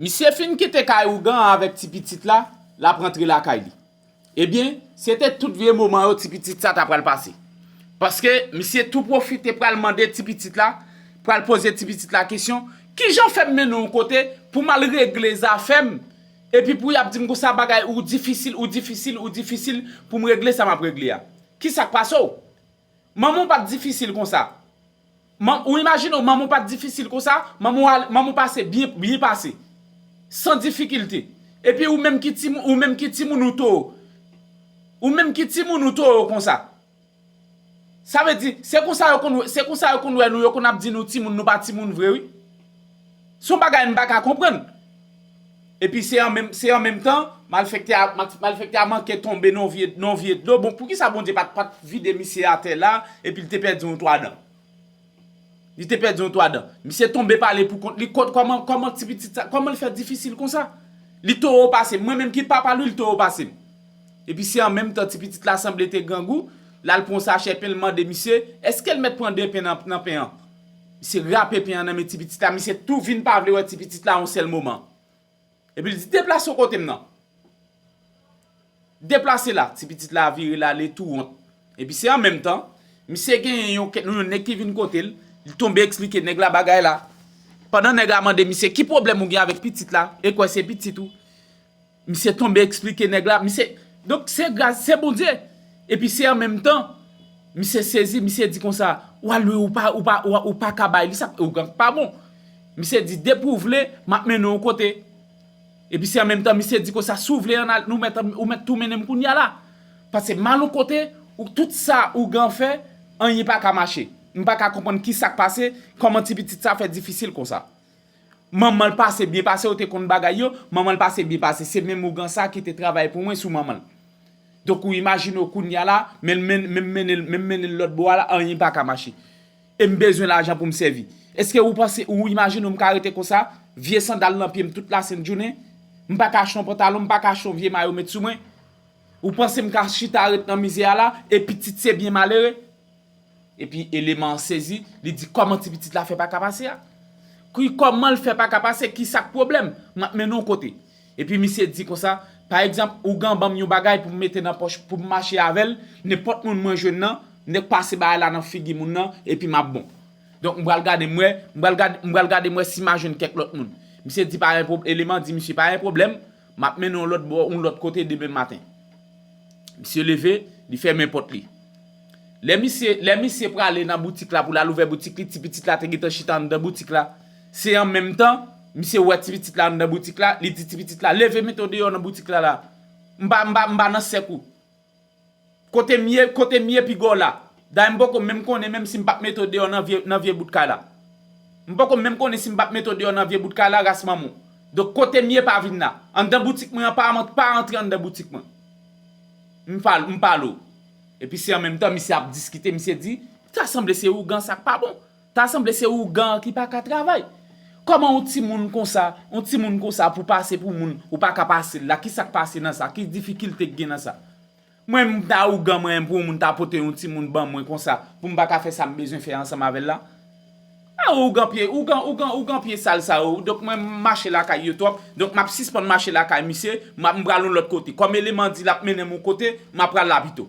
Misye fin kite kay ougan an avèk ti pitit la, l ap rantre lakay li. Ebyen, se te tout vye moman yo ti pitit sa ta pral pase. Paske, misye tou pwofite pral mande ti pitit la, pral poze ti pitit la kesyon, Ki jan fè m mennen w kote pou m al regle zafè m, epi pou y ap di m konsa bagay ou difisil, ou difisil, ou difisil pou m regle sa m ap regle a? Ki sa k pase w? Manman w pa t difisil konsa. Ou imajine w manman w pa t difisil konsa, manman w pase byen pase. San difikilte. Epi ou menm ki timoun ou too. Ou menm ki timoun ou too konsa. Sa vle di, se konsa yo konn wè nou, yo konn ap di nou timoun nou pa timoun vre wi. Son bagay m pa ka konprann. Epi se an menm se an menm tan malfèktè a malfèktè a manke tonbe nan yon vye nan yon vye dlo bon poukisa Bondye pat pat vide misye atè la epi l te pèdi yon 3 dan. Li te pèdi yon 3 dan. Misye tonbe pale pou kont li kot kòman kòman ti pitit sa kòman l fè difisil konsa. Li toro pase m mwen menm ki papa l wi li toro pase m. Epi se an menm tan ti pitit la sanble te grangou l al pran yon sachè pen l mande misye èske l mèt pran 2 pen nan nan pen an. Misye rape pen an nan men ti pitit la, misye tou vin pa vle wè ti pitit la yon sèl moman. Epi l di, Deplase w kote m nan. Deplase la. Ti pitit la vire l ale tou wont. Epi se an menm tan, misye genyen yon kèt nou yon nèg ki vin kote l, li tonbe eksplike nèg la bagay la. Pandan nèg la mande misye ki pwoblèm ou gen avèk pitit la, e kwè se pitit ou. Misye tonbe eksplike nèg la, misye Donk se gras se Bondye Epi se an menm tan Misye sezi, misye di konsa Wa lwi ou pa ou pa ou pa ka bay li sa Ou gan k pa bon Misye di depi ou vle m ap mennen w kote Epi se an menm tan misye di konsa Si w vle an n al ou mèt ou mèt tou mennen m kounya la Pase m al on kote ou tout sa ou gan fè Anyen pa ka mache M pa ka konprann ki sa k pase Kòman ti pitit sa fè difisil konsa. Manmanl pase byen pase yo te konn bagay yo, manmanl pase byen pase se menm ougan sa ki te travay pou mwen sou manmanl. Donk ou imajine w kounya la menl menn menm mennenl menm mennenl lòt bò a la anyen paka mache. Em bezwen lajan poum sèvi. Eske ou panse ou imajine w mka rete konsa, vye sandal nan pyem tout la sent jounen, mpaka achte yon pantalon, mpaka achte yon vye mayo met sou mwen? Ou panse mka chita ret nan mizè a la e pitit se byen malere? Epi eleman an sezi, li di kòman ti pitit la fè paka pase a? Ki kòman l fè paka pase, ki sa k pwoblèm? M ap mennen w kote. Epi misye di konsa, pa egzanp, ougan ban m yon bagay pou m mete nan pòch, pou m mache avè l, nenpòt moun mwen jwenn nan, m nèk pase bagay la nan figi moun nan, epi m ap bon. Donk m pral gade m wè, m pral gade, m pral gade m wè si m a jwenn kèk lòt moun. Misye di pa gen pwob, eleman di misye pa gen pwoblèm, m ap mennen w lòt bò, yon lòt kote demen maten. Misye leve, li fèmen pòt li. Lè misye lè misye prale nan boutik la pou l al ouvè boutik li, ti pitit la te gentan chita anndan boutik la. Se an menm tan, misye wè ti pitit la anndan boutik la, li di ti pitit la, leve mete w deyò nan boutik la la. M pa m pa m pa nan sèk ou. Kote m ye kote m ye piga w la. Dayè m poko menm konnen menm si m pap mete w deyò nan vye nan vye bout kay la. M poko menm konnen si m pap mete w deyò nan vye bout kay la ras manman w. Donk kote m ye pa vin la. Anndan boutik mwen an pa pa antre anndan boutik mwen. M pale w. Epi se an menm tan misye ap diskite misye di, ta sanble se ougan sa k pa bon, ta sanble se ougan an ki pa ka travay. Kòman yon timoun konsa, yon timoun konsa pou pase pou moun, ou pa ka pase l la, ki sa k pase nan sa, ki difikilte k gen nan sa. Mwen menm m ta ougan mwen pou yon moun ta pote yon timoun ban mwen konsa pou m pa ka fè sa m bezwen fè ansanm avè l la. Ah ougan pye ougan ougan ougan pye sal sa yo donk mwen mache lakay yo twòp donk map sispann mache lakay misye map mpral yon lòt kote kòm eleman di lap mennenm yon kote mapral la pito.